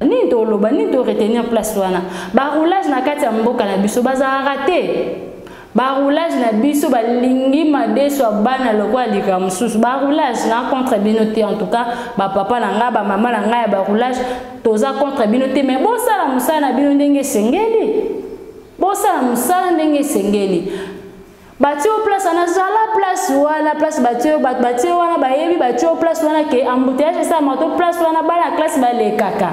nini toloba nini to retenir place wana baroulage na kati ya mboka na biso bazalaka te baroulage na biso balingi madeso ya bana lokola lika mosusu baroulage na contre bino te en tout cas bapapa na ngai bamama na ngai ya baroulage toza contre bino te mais bosala mosala na bino ndenge esengeli bosala mosala ndenge esengeli batie yo place wana zala place wana place batie bato batie wana bayebi batie yo place wana ke embouteillage esalama to place wana bana ya classe balekaka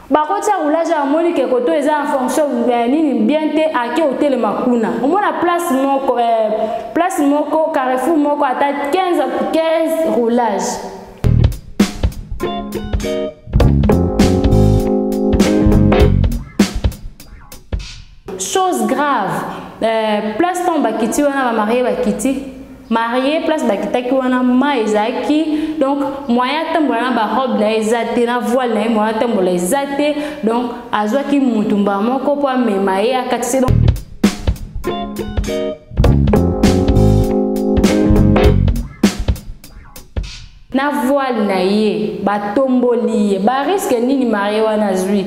bakotia roulage amoni ke koto eza en fonction ya nini bien te ake otelema kuna omona place moko eh, place moko carrefour moko ata 15 15 roulage Chose grave, euh, place ntango bakiti wana bamarie bakiti marie place bakitaki wana ma ezalaki donc moyen atambola na barobe na ye eza te na voile na ye moyen atambola eza te donc azwaki motu mbala moko mpo amema ye akatisi donc na voile na ye batomboli ye bariske nini marie wana azwi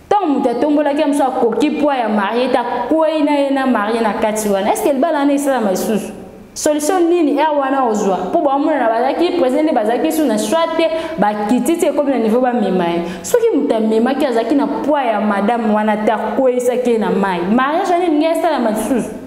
ntango moto atombolaki ya mosusu akoki poids ya marie te akwei na ye na marie na kati wana estce libala wana esalama lisusu solution nini aire wana ozwa mpo baomonana bazalaki président nde bazalaki su na soi te bakiti ti ekomi na niveau bamema ye soki moto amemaki azalaki na poids ya madame wana te akweisaki ye na mai mariage wana elingi esalama lisusu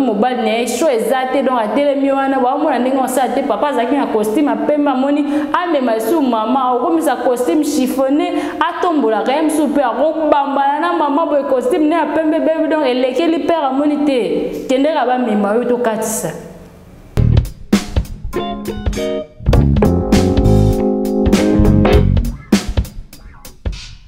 mobali na ye sho eza te donc atelemi wana baomona ndenge osala te papa azalaki na costume apembe amoni amema lisusu mama akokomisa costume chiffonne atombolaka ye mosusu mpe akobambana na mama boye costume ne ya pembe bebi donc elekeli pere amoni te kendeka bamema yo tokatisa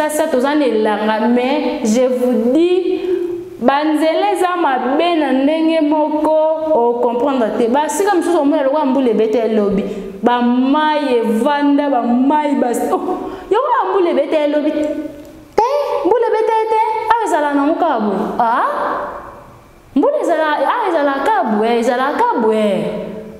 sasa toza na elanga mais je vous dis banzela eza mabe na ndenge moko ocomprendre te basika mosusu omona lokola mbula ebeta elobi ba mai evanda ba mai ba oh, yango ya mbula ebeta ye lobi te mbula ebeta ye te awa ezala nango kaka boye ah? mbula ezala awa ezalaka kaka boye ezalaka kaka boye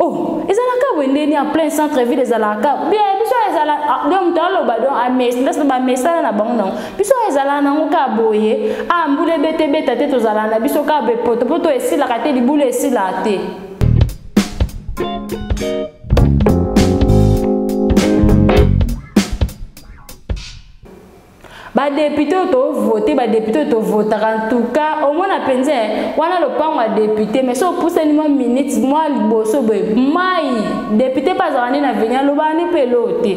oh ezalaka boye ndeni en plein centre ville ezalaka kaka bien biso ezala ah, do moto aloba do amesndasi ah, bamesana na bango nango biso ezala nango kaka boye a ah, mbula ebeta ebeta te tozala na biso kaka boye potopoto esilaka te libula esilaka te badepute oyo tovote badepute oyo tovotaka ntuka omona mpenza wana lopango ya depute mai so opusani mwa minute mwa liboso boye mai depute mpe azalaka nde na veni alobaka nde mpe eloo te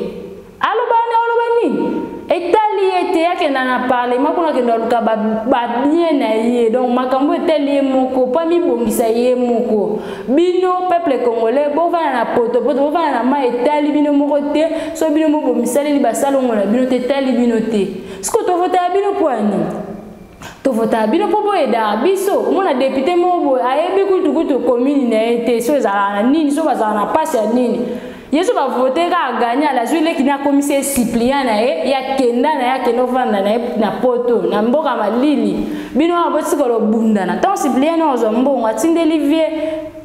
aloba wana oloba nini etali ye te akenda na parlement kuna akenda aluka babien na ye donc makambo etali ye moko mpo amibongisa ye moko bino peuple congolais bovanda na potopoto bovanda na mai etali bino moko te so bino mobomisaleli basalongo na bino te etali bino te siko tovotaya bino mpo ya nini tovotaka bino mpo boyedaka biso omona depute moko boye ayebi kutukutu komini na ye te so ezalaka na nini so bazalaka na mpasi ya nini yesu bavote kaka gani ala azwi leki na akomisi ye suppliant na ye ye akenda na ye akenda ofanda na ye na poto na mboka malili bino wana botika lobundana ntango suppliant na ozwa mbongo atindeli vie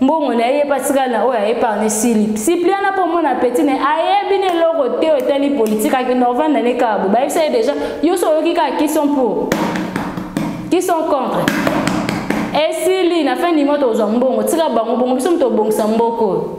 mbongo na ye epatikali na oyo aepargne silip sipliana mpo omona peti na ye ayebi na eloko te oyo etali politike ake norvanda ne kaka bo bayebisa ye deja yo so oyoki kaka qui sont pour qui sont contre esili na fin du mois tokozwa mbongo tika bango bongo biso moto obongisa mboko oyo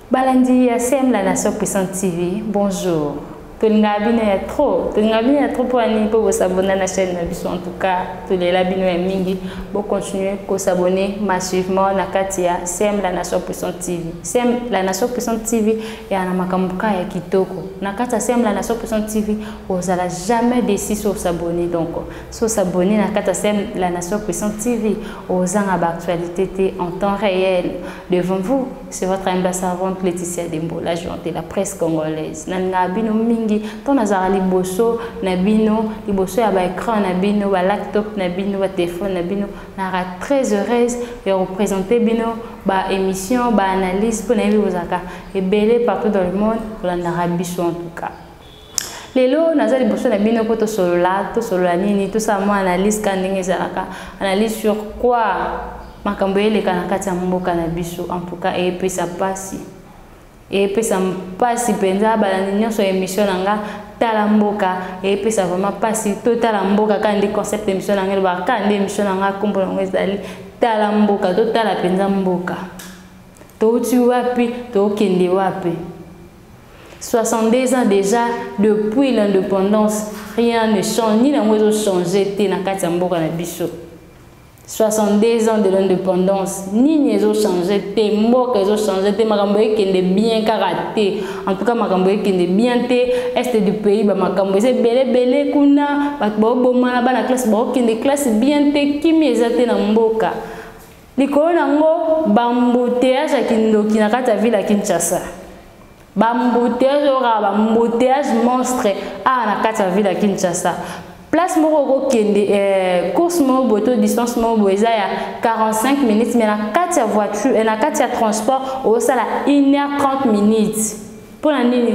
Balandi ya CM la Nation Puissante TV, bonjour. tolingaka bino ya trop tolingaka bino ya trop mpo ya nini mpo bosabona na chaîne na biso en tout cas tolela bino ya mingi bocontinue kosabone massivement na kati ya cm la nation puissante tv cm la nation puissante tv eya na makambo ka ya kitoko na kati ya cm la nation puissante tv ozala jamais desi so osabone donc so osabone na kati ya cm la nation puissante tv ozanga baactualité te en temps réel devant vous C'est votre humble servante Laetitia Dembo, la joie de la presse congolaise. Nanga bino mingi, ton nazara liboso na bino, liboso ya ba écran na bino, ba laptop na bino, ba téléphone na bino, nara très heureuse de représenter bino ba émission, ba analyse pour na vous aka et belé partout dans le monde, pour la nara biso en tout cas. lelo naza liboso na bino mpo tosolola tosolola nini tosala mwa analyse kaka ndenge ezalaka analyse sur quoi makambo eleka na kati ya mboka na biso en tout cas eyepesa mpasi eyepesa mpasi mpenza balandi nyonso ya émission na nga tala mboka eyepesa vraiment mpasi totala mboka kaka nde concept émission na nga elobaka kaka nde émission na nga nkombo na yango ezali tala mboka totala mpenza mboka touti wapi tokende wapi 62 ans déjà depuis l'indépendance rien ne change ni nango ezo change te na kati ya mboka na biso 62 ans de l'indépendance nini ezo change te mboka ezo change te makambo ekende bien kaka te en tout cas makambo ekende bien te est du pays bamakambo eza ebele ebele kuna bato baobomana bana classe baokende classe bien te kimi eza te na mboka Likolo na yango bambouteyage ya kindoki na kati ya ville ya Kinshasa. Bambouteyage oyoka bambouteyage monstre awa na kati ya ville ya Kinshasa. Place moko okokende eh, course moko boye to distance moko boye eza ya 45 minutes mais na kati ya voiture eh, na kati ya transport osala 1 heure 30 minutes. mpo na nini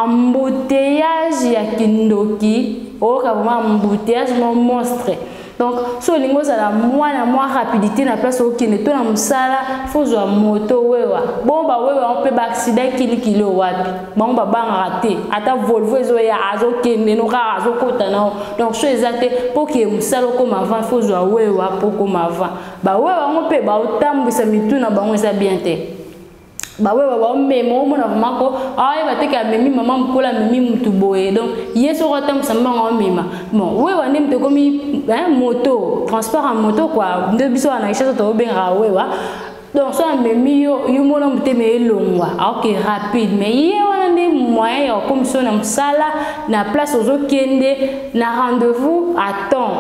embouteillage ya kindoki oyoka vraiment embouteillage mo monstre donc si olingi ozala mwana mwa rapidité na place okende to na mosala fo ozwa moto wewa bongo bawewa yango mpe baaccident kilikili oyo wapi bango babangaka te ata volvo ezoya azokende no kaka azokota nao donc so eza te mpo okeye mosala okoma avant fo ozwa wewa mpo okoma avant bawewa yango mpe baotambwisa mitu na bango eza bien te bawewa baomema omona vraimen ko ayeba teke amemi mama mokolo amemi motu boye donc ye soko atambwisa mbanga omema bon wewa nde moto ekomi moto transport ya moto kua nde biso wana richesse tobengaka wewa donc so amemi yo yo mona motema elongwa aoke rapide mais ye wana nde moyen ya kokomisa yo na mosala na place ozokende na rendez-vous à temps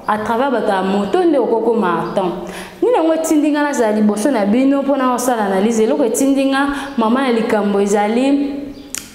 à travers bato ya moto nde okokoma à temps nini yango etindi ngai nazala liboso na bino mpo na kosala analyse eloko etindi ngai mama ya likambo ezali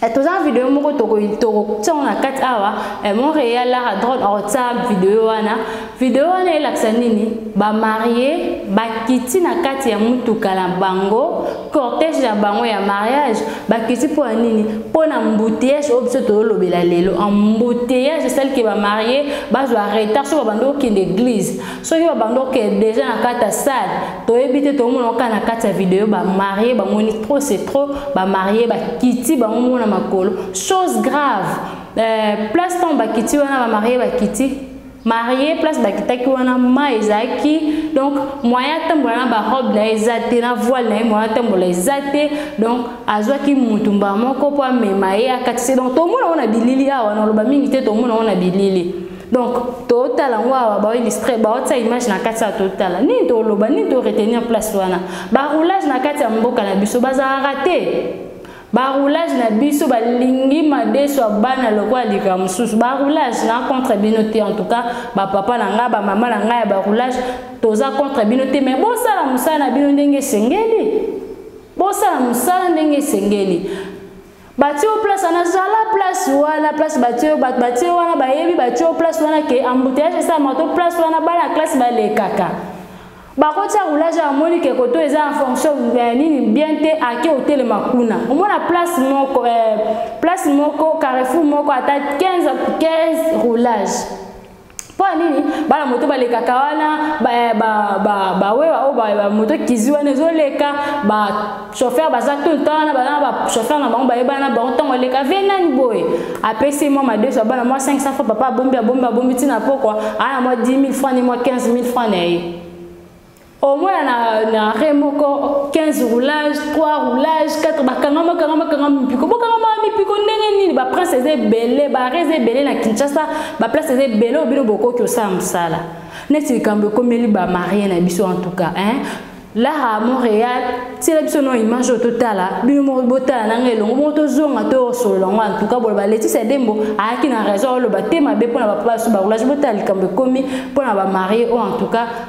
eh, toza na video moko tokotia yango na kati awa eh, montreal lara drone akotia video wana video wana elakisa nini bamarie bakiti na kati ya motuka na bango cortège na bango ya mariage bakiti mpo ya nini mpo na mbuteyage oyo biso tozolobela lelo embuteyage esalike bamarie bazwa retard soki babandi okende eglise soki babanda okende deja na kati ya sale toyebi te tomona kaka na kati ya video bamarie bamoni trop c'est trop bamarie bakiti bango moko na makolo chose grave euh, place ntango bakiti wana bamarie bakiti marie place bakitaki wana ma ezalaki donc moyen atambola na barobe na ye eza te na voile na ye moyen atambola eza te donc azwaki mutu mbala moko mpo amema ye akatisi donc tomona ngo na bilili awa na oloba mingi te tomona ngo na bilili donc totala yango awa baoilistre baotia image na kati ya totala nini toloba nini toretenir place wana baroulage na kati ya mboka na biso bazalaka te baroulage na biso balingi madesu ya bana lokola likaa mosusu baroulage na contre bino te en tout cas bapapa na ngai bamama na ngai ya baroulage toza contre bino te mais bosala mosala na bino ndenge esengeli bosala mosala ndenge esengeli batie yo place wana zala place wana place batie bato batie wana bayebi batie yo place wana ke embouteillage esalama to place wana bana ya classe balekaka bakotia roulage amoni ke koto eza en fonction ya nini bien te ake otelema kuna omona place moko eh, place moko carrefour moko ata 15 15 roulage mpo ya nini bana moto balekaka wana bawewa oyo bamoto kizi wana ezoleka bachauffeur baza tout le temps wana baza na bachauffeur na bango bayebana na bango ntango eleka vie nani boye apesi mwa madeso ya bana mwa 500 fois papa abombi abombi abombi ntina pokwa aa na mwa 10 000 franc ni mwa 15 000 franc na ye au moins na, na re moko 15 roulage 3 roulage 4 bakangama kangama kangama mipiko bokangama mipiko ndenge nini baprince eza ebele bare eza ebele na kinshasa baplace eza ebele oyo bino bokoki osala mosala neti likambo ekomeli bamarie na biso en tout cas hein? lara à montréal tiela biso no image oyo totala bino moko botala na ngai elongo moko tozonga toyosolola yango antuka boloba leticia dembo ayaki na raison oloba te mabe mpo na bapapa basu baroulage botala likambo ekomi mpo na bamarie oyo antuka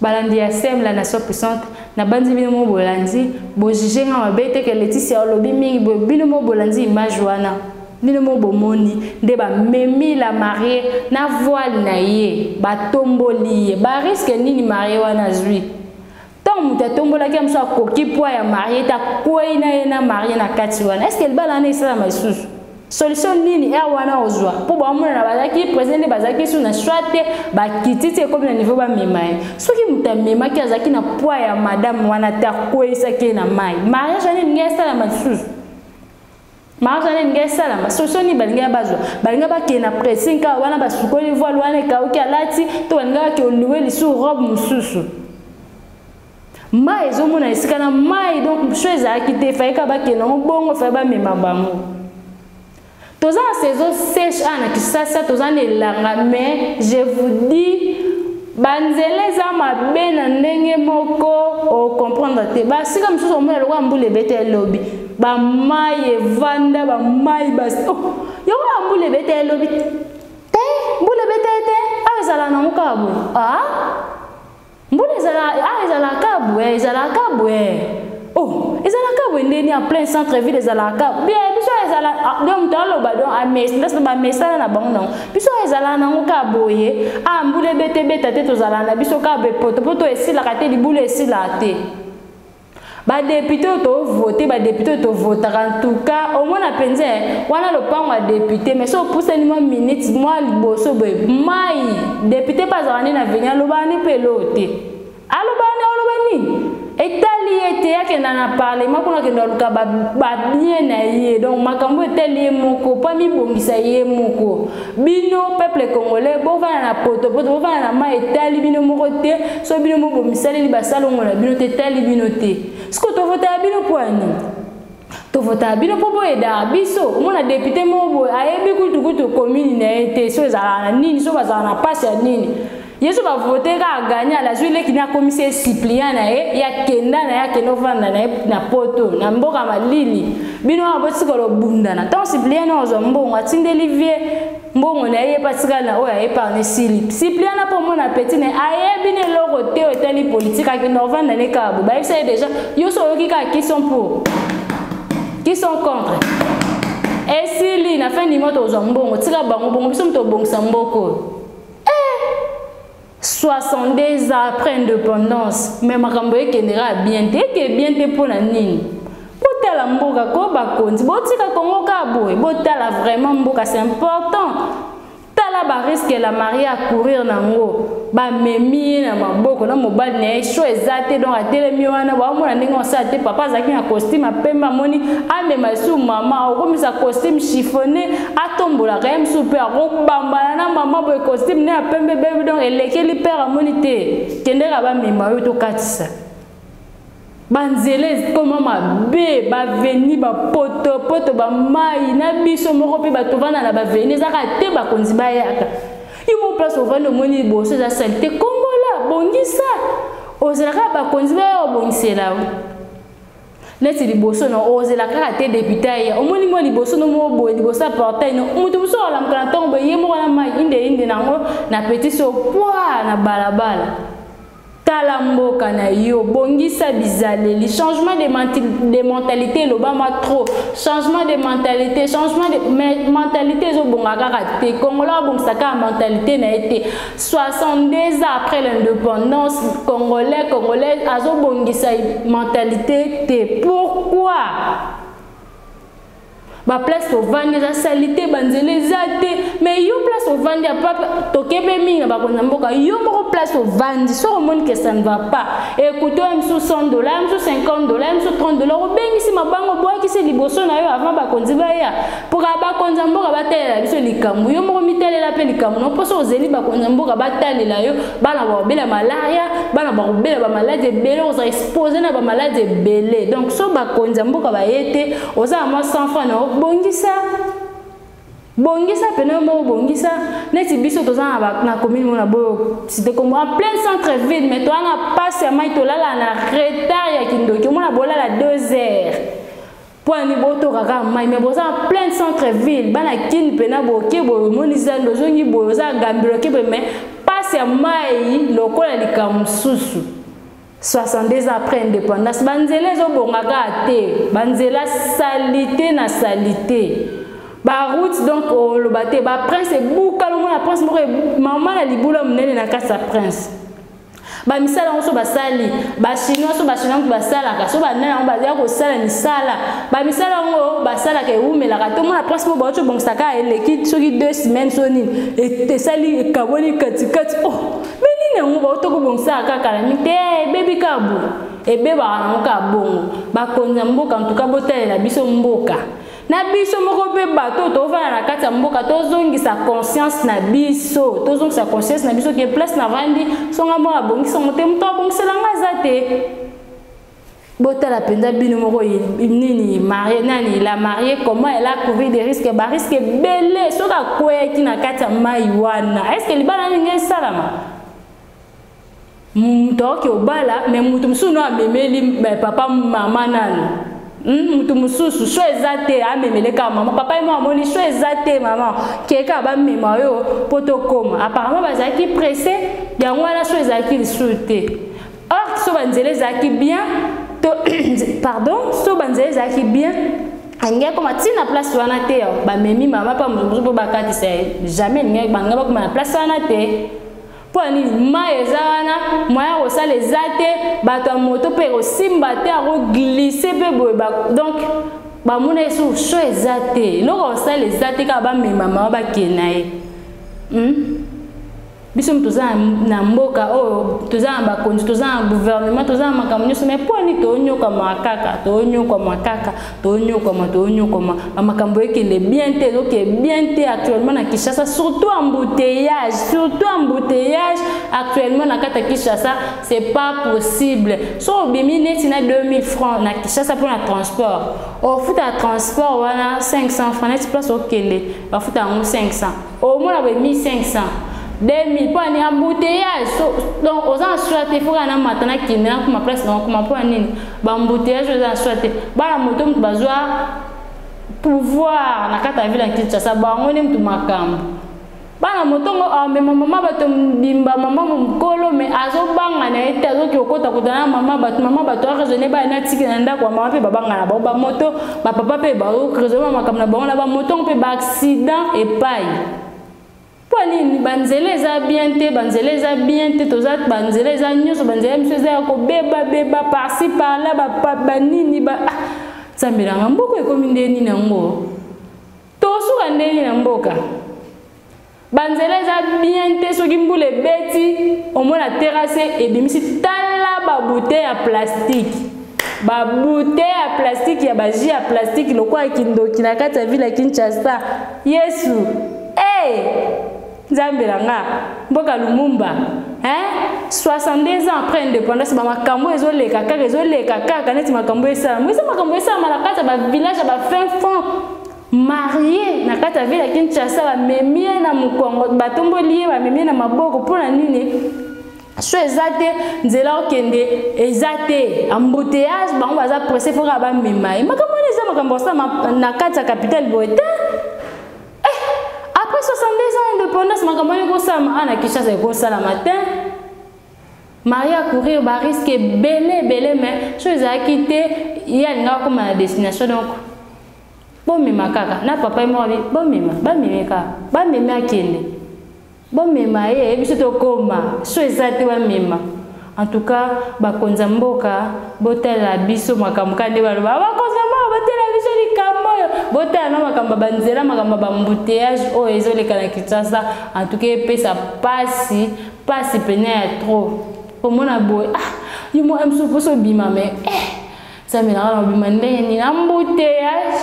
balandi ya sem la nation puissante nabanzi bino mo bolandi bojuge nga mabe te ke leticia olobi mingi boye bino mo bolandi image wana bino mo bomoni nde bamemi la marie na voile na ye batomboli ye bariske nini marie wana azwi ntango moto atombolaki ya mosusu akoki pwa ya marie te akwei na ye na marie na kati wana eske libala wana esalama lisusu solution nini heure wana ozwa mpo baomonana bazalaki president nde bazalaki su na choix te bakititi ekomi na niveau bamema ye soki moto amemaki azalaki na poi ya madame wana te akweyisaki ye na mai mariage wana elingi esalama lisusu mariage wana elingi esalama solution nini balingi bazwa balingi bakende na pressing kaka wana basukoli voile wana ekauki alati to balingi bakende oliwe lisusu robe mosusu mai ezomona esika na mai donc so ezalaki te fayeka bakenda yango bongo faye bamema bango toza na saison sèche awa na kisasa toza na elanga mais je vous dis banzela eza mabe na ndenge moko ocomprendre te basika mosusu omona lokola mbula ebete elobi bamai evanda bamai bas oh, yango ya mbula ebete elobi te mbula ebete te awa ezala nango kaka boye ah? mbula ezala ah ezalaka bwe ezalaka bwe oh ezalaka bwe ndeni en plein centre ville ezalaka bwe biso ezala ah, donc moto aloba donc amesi ndasi bamesana na bango nango biso ezala nango ka boye a ah, mbula ebetebeta te tozala na biso ka boye potopoto esilaka te libula esilaka te ba député oyo tovote ba député oyo tovotaka en tout cas omona mpenza wana lopango ya député mais soki opusani mwa minute mwa liboso boye mai député mpe azalaka nde na veni alobaka nde mpe eloo te alobaka nde oloba nini etali ye te akenda na parlement kuna akenda luka babien na ye donc makambo etali ye moko mpo amibongisa ye moko bino peuple congolais bovanda na potopoto bovanda na mai etali bino moko te so bino moko bomisaleli basalongo na bino te etali bino te sikoyo tovotaka bino mpo ya nini tovotaka bino mpo boyedaka biso omona depute moko boye ayebi kutukutu komini na ye te so ezalaka na nini so bazalaka na mpasi ya nini yesu bavote kaka gani ala azwi leki na akomisi ye suppliant na ye ye akenda na ye akende ofanda na ye na poto na mboka malili bino wana botika lobundana ntango suppliant na ozwa mbongo atindeli vie mbongo na ye ye mpe atikali na oyo aepargne sili suppliant na mpo omona peti na ye ayebi na eloko te oyo etali politike akende ofanda na ye kaka bo bayebisa ye deja yo so oyoki kaka qui sont pour qui sont contre esili na fin du mois tozwa mbongo tika bango bongo biso moto obongisa mboko oyo 62 ans après indépendance mais makambo ekendeka bien te eke bien te mpo na nini botala mboka ko bakonzi botika kongo kaka boye botala vraiment mboka c'est important tala bariske la marie acourir nango bamemi ye na maboko na mobali na ye sho eza te donc atelemi wana baomona ndenge osala te papa azalaki na costume apembe amoni amema lisusu mama okomisa costume chiffonne atombolaka ye mosusu mpe akobambana na mama boye costume ne ya pembe bebi donc elekeli père amoni te kendeka bamema yo tokatisa banzela ekoma mabe baveni bapotopoto bamai na biso moko mpe bato vanda na baveni ezaka te bakonzi bayaka yo mo place ovandi omoni liboso eza salite kongola bongisa ozalaka bakonzi baya obongisela yo neti liboso na ozela kaka te depute aya omoni mwa liboso no moko boye liboso ya portail no moto mosusu alamuka na ntongo boye ye moko na mai indeinde na yango na petit so pwa na balabala tala mboka na yo bongisa bizaleli changement de, de mentalité elobama trop changement de mentalité changement de mentalité ezobonga kaka te kongola abongisa kaka mentalité na ye te 62 ans après l'indépendance congolais congolaise azobongisa mentalité te pourquoi baplace tovandi eza salite banzela eza te mais yo place ovandi tokebe mingi na bakonzi ya mboka yo moko place ovandi soki omoni ke ça ne va pas ekuto ya misu 100 dollar ya misu 50 dollar ya misu 30 dollar obengisi mabango obwakisi liboso na yo avant bakonzi baya Mpoka bakonza mboka batalela biso likambo yo moko mitalela mpe likambo na mposo ozeli bakonza mboka batalela yo bana bakobela malaria bana bakobela bamaladi ebele ozala expose na bamaladi ebele donc so bakonzi ya mboka baye te oza na mwa sans fran na yo bongisa bongisa pene moko bongisa neti biso toza na commune mona boyo site kombo en plein centre ville mais toza na mpasi ya mai tolala na retard ya kindoki omona bolala 2 heures mpo ya nini botoka kaka mai mai boza na plein centre ville bana kini mpena boke boye omoni zando ozongi boye oza na gambiloke boye mai mpasi ya mai lokola likambo mosusu 62 ans après indépendance banzela ezobonga kaka te banzela salite na salite baroute donc oloba te baprince ebuka lomona prince moko mama na libula monene na kati ya prince ba misala yango so basali bachinois so bachinois moto basalaka so banani yango baza kosala misala ba misala yango basalaka ewumelaka to mona prince mo bauti obongisa kaka eleki soki deux semaines so nini e, esali ekaboli katikati oh me nini yango bauti okobongisaka kaka na mite eh, ebebi kaka boye ebebaka yango kaka bongo bakonzi ya mboka ntuka botalela biso mboka na biso moko mpe bato oyo tovanda na kati ya mboka tozongisa conscience na biso tozongisa conscience na biso ke place navandi songa moko abongisa yango te moto abongisela ngai aza te botala mpenza bino moko nini marie nani la marie comment elle a couru des risques bariske ebele soki akweyaki na kati ya mai wana estce libala nini esalama moto aoki obala me moto mosusu no amemeli eh, papa mama nano hmm, moto mosusu so eza te amemele kaka mama papa ye mo amoni so eza te mama keka bamema yo mpo tokoma apparemment bazalaki presse yango wana so ezalaki lisusu te or so banzela ezalaki bien to pardon so banzela ezalaki bien alingi akoma ti na place wana te bamemi mama mpa moto mosusu mpo bakatisa ye jamais elingi bangai bakoma na place wana te mpo ya nini mai eza wana moyen ya kosala eza te bato ya moto mpe ekosimba te akoglise mpe boye donc bamona ye sur sho eza te eloko kosala eza te kaka bamema mama bakee na ye hmm? biso moto toza na mboka oyo toza na bakonzi toza na gouvernement toza na makambo nyonso mai mpo nini toonyokwamaka kaka toonyokwamaka kaka toonyokwama toonyokwama bamakambo ekende bien te ezoke bien te actuellement na kinshasa surtout embouteillage surtout embouteillage actuellement na kati ya kinshasa c'est pas possible so obimi neti na 2000 francs na kinshasa mpo na transport ofuta transport wana 500 francs neti place okende bafuta yango 500 omona boye 1500 2000 mpo ani embouteillage so, donc oza na soi te fo kaka na mata na kende na kuma place na okoma mpo ya nini baembouteillage oyo eza na soi te bana moto moto bazwa pouvoir na kati ya ville ya kinshasa bango nde moto makambo bana motongo amema ah, mama bato mbimba mama mokolo me azobanga na ye te azoki kokota kota na mama bato mama bato araisonne baya na tiki na ndako ya mama mpe babanga na bango bamoto bapapa mpe baokrezoma makambo na bango na bamotongo mpe baaccident epai mpo nini banzela eza bien te banzela eza bien te toza banzela eza nyonso banzela biso eza ya kobebabeba parci parla banini ba ah, nzambe nanga mboka ekomi nde nini yango tosuka nde nini na mboka banzela eza bien te soki mbula ebeti omona terase ebimisi tala babute ya plastike babute ya plastike ya baji ya plastike lokola kindoki na kati ya ville ya kinshasa yesu e hey! nzambe na nga mboka lumumba hein? 62 ans après indépendance bamakambo ezoleka kaka ezoleka kaka neti makambo esalama eza makambo esalama na kati ya bavillage ya bafin fond marie na kati ya ville ya kinshasa bamemi ye na mokongo batomboli ye bamemi ye na maboko mpo na nini so eza te nzela okende eza te embouteillage bango baza presse mpo kaka bamema ye makambo wana eza makambo osama na kati ya capitale boye te eh, après 62 ans indépendance makambo wana ekosalama awa ah, na kinshasa ekosalama te marie acourir bariske ebele ebele mais so ezalaki te ye alingaka koma na destination donc bomema kaka na papa ye moko abi bomema bameme kaka bameme akende bomema ye ye biso tokoma so eza te bamema en tout cas bakonzi ya mboka botalela biso makambo ka nde baloba bakonzi ya mboka botalela biso likambo oyo botala na makambo ya banzela makambo ya bambuteyage oyo ezoleka na kinshasa en tout cas epesa mpasi mpasi pene ya trop omona boye ah yo mwa mso mposo obima me eh. Nzambe na wana obima ndenge nini embouteillage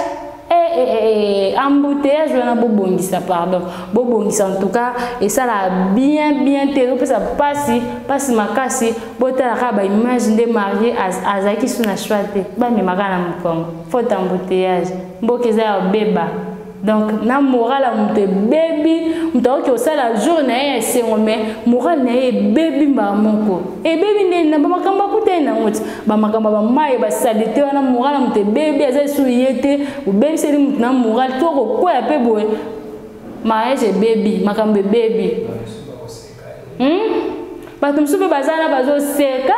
eh, eh, eh, eh, eh embouteillage wana bobongisa pardon bobongisa en tout cas esalaka bien bien te ezopesa mpasi mpasi makasi botalaka baimage nde marie azalaki su na choix te bamemaka na mokongo faute embouteillage mboka eza ya obeba donc na moral ya moto ebebi moto akoki kosala jour na ye ya esengo me moral na ye ebebi mbala moko ebebi nde na bamakambo akuta ye nango ti bamakambo ya bamaye basalite wana moral ya moto ebebi aza lisusu ye te obebiseli moto na moral to kokwea mpe boye mariage ebebi makambo ebebi hmm? bato mosusu mpe baza na bazoseka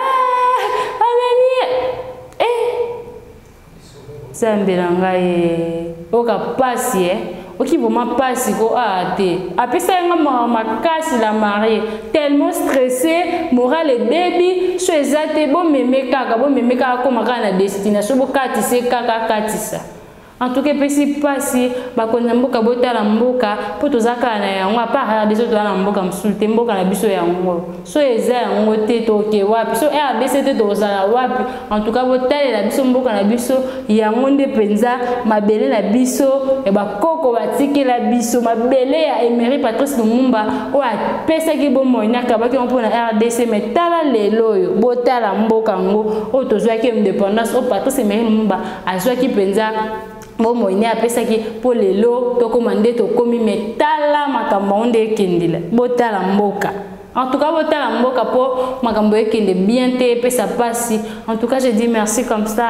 Nzambe na ngai eh. oka pasi eh. oki vraiment pasi ko aa ah, te apesa yanga mawa makasi la marie tellement stressé moral ebebi so eza te bomeme kaka bomeme kaka akoma kaka na destination bokatisa kaka akatisa en tout cas epesi mpasi bakonzi ya mboka botala mboka mpo toza kaka na yango apart rdc toza na mboka mosusu te mboka na biso yango so eza yango te toke wapi so rdc te tokozala wapi en tout cas botalela biso mboka na biso yango nde mpenza mabele na biso ya bakoko batikela biso mabele ya emery patrice lumumba oyo apesaki bomoi na kabaki yango mpona rdc me tala lelo oyo botala mboka yango oyo tozwaki independance oyo patrice emery lumumba azwaki mpenza bomoi nde apesaki mpo lelo tokoma nde tokomi me tala makambo yango nde ekendela botala mboka en tout cas botala mboka mpo makambo ekende bien te epesa mpasi en tout cas je dis merci comme ça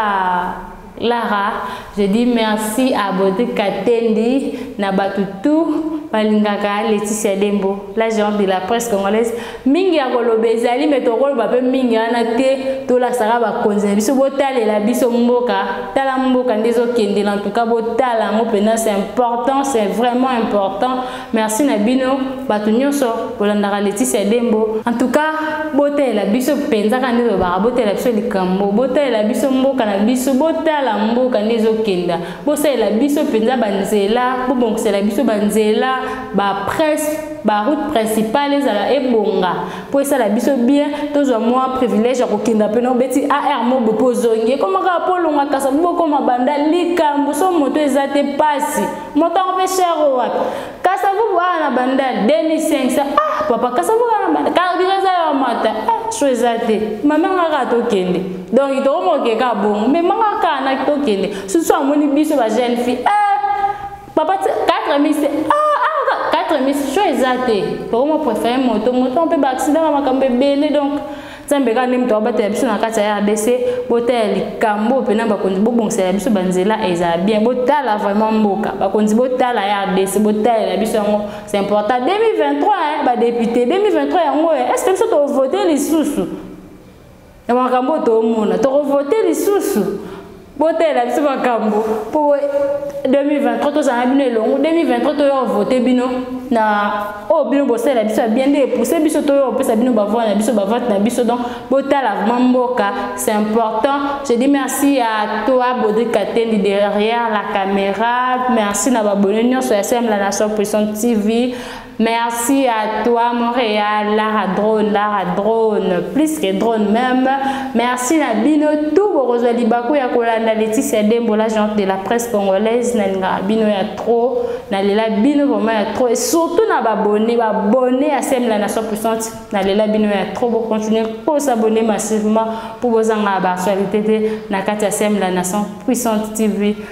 lara je dis merci à bodi katendi na bato tout balingaka leticia dembo la géante de la presse congolaise mingi ya koloba ezali me tokoloba mpe mingi wana te tolasaka bakonzi na biso botalela biso mboka tala mboka nde ezokende na ntuka botala yango mpena c'est important c'est vraiment important merci na bino bato nyonso bolandaka letisia dembo en tout cas botalela biso mpenza ka nde tolobaka botalela biso likambo botalela biso mboka na biso botala mboka nde ezokenda bosalela biso mpenza banzela bobongisela biso banzela bapresse ba route principale ezala ebonga mpo esala biso bien tozwa mwa privilège ya kokenda mpe nobeti ar mobo mpo ozongi ekoma kaka mpo olonga kasa bokoma banda likambo so moto eza te mpasi moto yango mpe cher o wapi kasa vubu awa na banda 2500 ah papa kasa vubu awa na banda karbira eza ya mata ah so eza te mamanga kaka tokende donk tokomoke kaka bongo memanga kaka na tokende susu amoni biso ba jeune fille ah papa 4 miss ah, ah 4 miss sho eza te tokoma préfère moto moto mpe baaccident na makambo ebele donc nzambe kaka nde moto abatela biso na kati ya rdc botala likambo mpena bakonzi bobongisela biso banzela ezala bien botala vraiment mboka bakonzi botala ya rdc botalela biso yango c'est important 2023 badepute 2023 yango est ce que biso tovote lisusu na makambo oyo toomona tokovote lisusu botalela biso makambo mpo 2023 tozala bino elongo 2023 toya kovote bino na oyo bino bosalela biso ya bien nde epuse biso toya kopesa bino bavoi na biso bavote na biso donc botala vraimen mboka c'est important je dis merci à toi bodri katendi derrière la caméra merci na babone nyonso ya semla nation puissante tv Merci à toi Montréal, Lara Drone, Lara Drone, plus que drone même. Merci na bino tout bokozwa libaku ya kolanda Laetitia Dembo la gente de la presse congolaise na linga bino ya trop, na lela bino vraiment ya trop et surtout na ba abonné, ba abonné à Sem la nation puissante, na lela bino ya trop bo continuer ko s'abonner massivement pour bozanga ba actualité na kati ya Sem la nation puissante TV.